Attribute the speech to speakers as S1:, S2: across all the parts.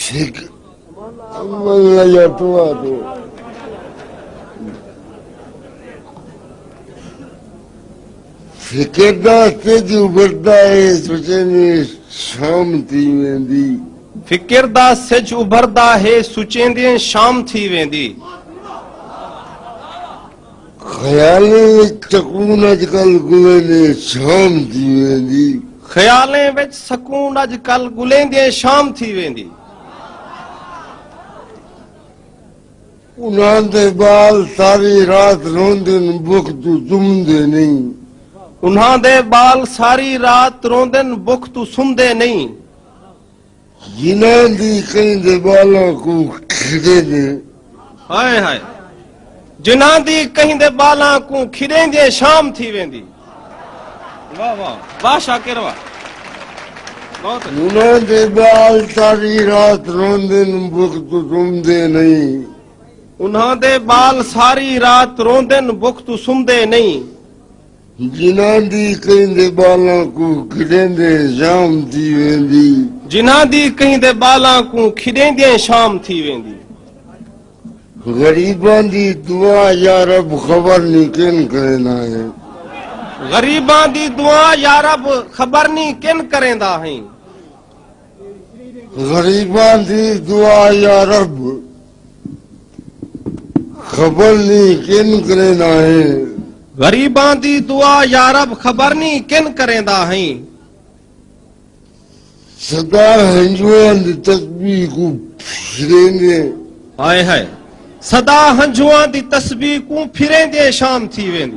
S1: سکھ فکر داستے جو ابھردا ہے سوچے نے شام تھی ویندی فکر دا سج ابھردا ہے سوچیں دیں شام تھی ویندی خیالیں وچ سکون اج کل گلیندیں شام تھی ویندی۔ خیالیں وچ سکون اج کل گلیندیں شام تھی ویندی۔ انہاں دے ٻال ساری رات روندن بکھ توں سمدے نئیں۔ انہاں دے ٻال ساری رات روندن بکھ توں سمدے نئیں۔ جنہاں دی کہیں دے بالاں کوں کھریندے۔ ہائے ہائے جنہاں دی کہیں دے بالاں کوں کھریندے شام تھی ویندی۔ واہ واہ واہ شاکر واہ۔ انہاں دے بال ساری رات روندن بکھ توں سمدے نئیں۔ انہاں دے بال ساری رات روندن بکھ توں سمدے نئیں۔ جنہاں دی کہیں دے بالاں کوں کھڈیندیں شام تھی ویندی۔ جنہاں دی کہیں دے بالاں کوں کھڈیندیں شام تھی ویندی۔ غریباں دی دعا یارب خبر نی کن کریندا ہیں۔ غریباں دی دعا یارب خبر نی کن کریندا ہیں۔ غریباں دی دعا یارب خبر نی کن کریندا ہیں۔ غریباں دی دعا یارب خبر نی کن کریندا ہیں۔ سدا ہنجواں دی تسبیح کوں پھریندیں۔ ہائے ہائے سدا ہنجواں دی تسبیح کوں پھریندیں شام تھی ویندی۔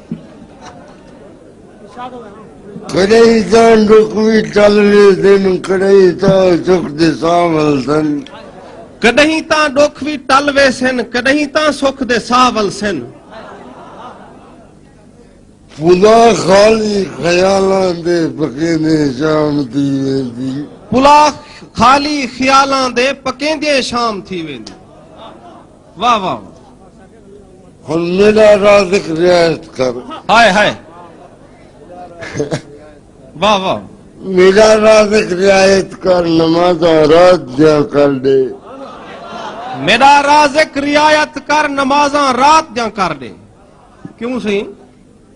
S1: کڑئی تاں ڈکھ وی ٹل ویسن کڑئی تاں سکھ دے ساہ ولسن کڈہیں تاں ڈکھ وی ٹل ویسن کڈہیں تاں سکھ دے ساہ ولسن پلا خالی خیالاں دے پکیندے شام تھی ویندی پلا خالی خیالاں دے پکیندے شام تھی ویندی واہ واہ ہن میرا رازق رعایت کر ہائے ہائے واہ واہ میرا رازق رعایت کر نماز رات دیا کر دے میرا رازق رعایت کر نمازاں رات دیاں کر دے کیوں سی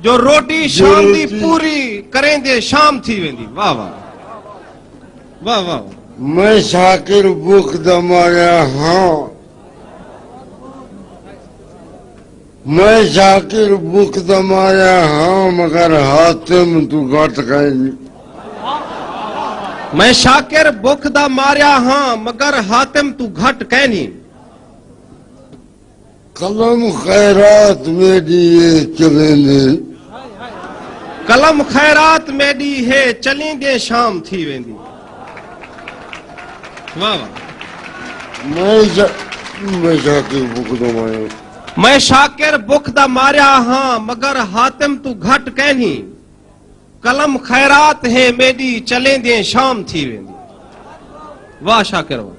S1: جو روٹی شام دی پوری کریں دے شام تھی ویندی واہ واہ واہ واہ میں شاکر بک دا ماریا ہاں میں شاکر بک دا ماریا ہاں مگر حاتم تو گھٹ گئے نہیں میں شاکر بک دا ماریا ہاں مگر حاتم تو گھٹ کہنی قلم خیرات میݙی ہے چلیندے۔ قلم خیرات میݙی ہے چلیندے شام تھی ویندی۔ واہ واہ۔ میں شاکر بکھ دا ماریا ہاں۔ میں شاکر بکھ دا ماریا ہاں مگر حاتم توں گھٹ کینھی۔ قلم خیرات ہے میݙی چلیندے شام تھی ویندی۔ واہ شاکر واہ۔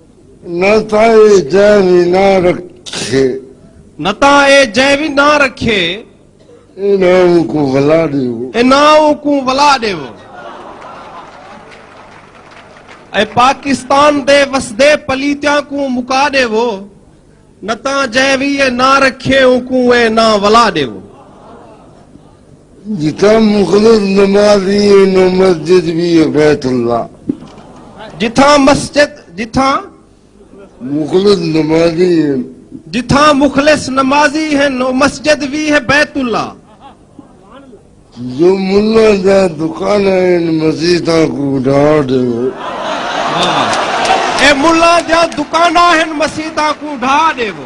S1: نہ تاں اے جئیں وی نہ رکھے۔ نہ تاں اے جئیں وی نہ رکھے۔ اے نہ اونکوں ولا ݙیو۔ اے نہ اونکوں ولا ݙیو۔ اے پاکستان دے وسدے پلیتیاں کوں مکا ݙیو۔ نہ تاں جئیں وی اے نہ رکھے اونکوں اے نہ ولا ݙیو۔ جتھاں مخلص نمازی ہن او مسجد وی ہے بیت اللہ۔ جتھاں مسجد جتھاں۔ مخلص نمازی ہن۔ جتھاں مخلص نمازی ہن او مسجد وی ہے بیت اللہ۔ جو ملاں دیاں دکاناں ہن مسیتاں کوں ڈھا ڈیوو۔ اے ملاں دیاں دکاناں ہن مسیتاں کوں ڈھا ڈیوو۔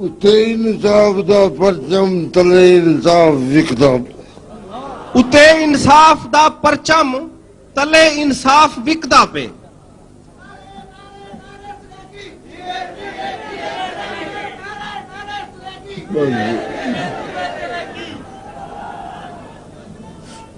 S1: اتے انصاف دا پرچم تلے انصاف وکدا پئے۔ اتے انصاف دا پرچم تلے انصاف وکدا پئے۔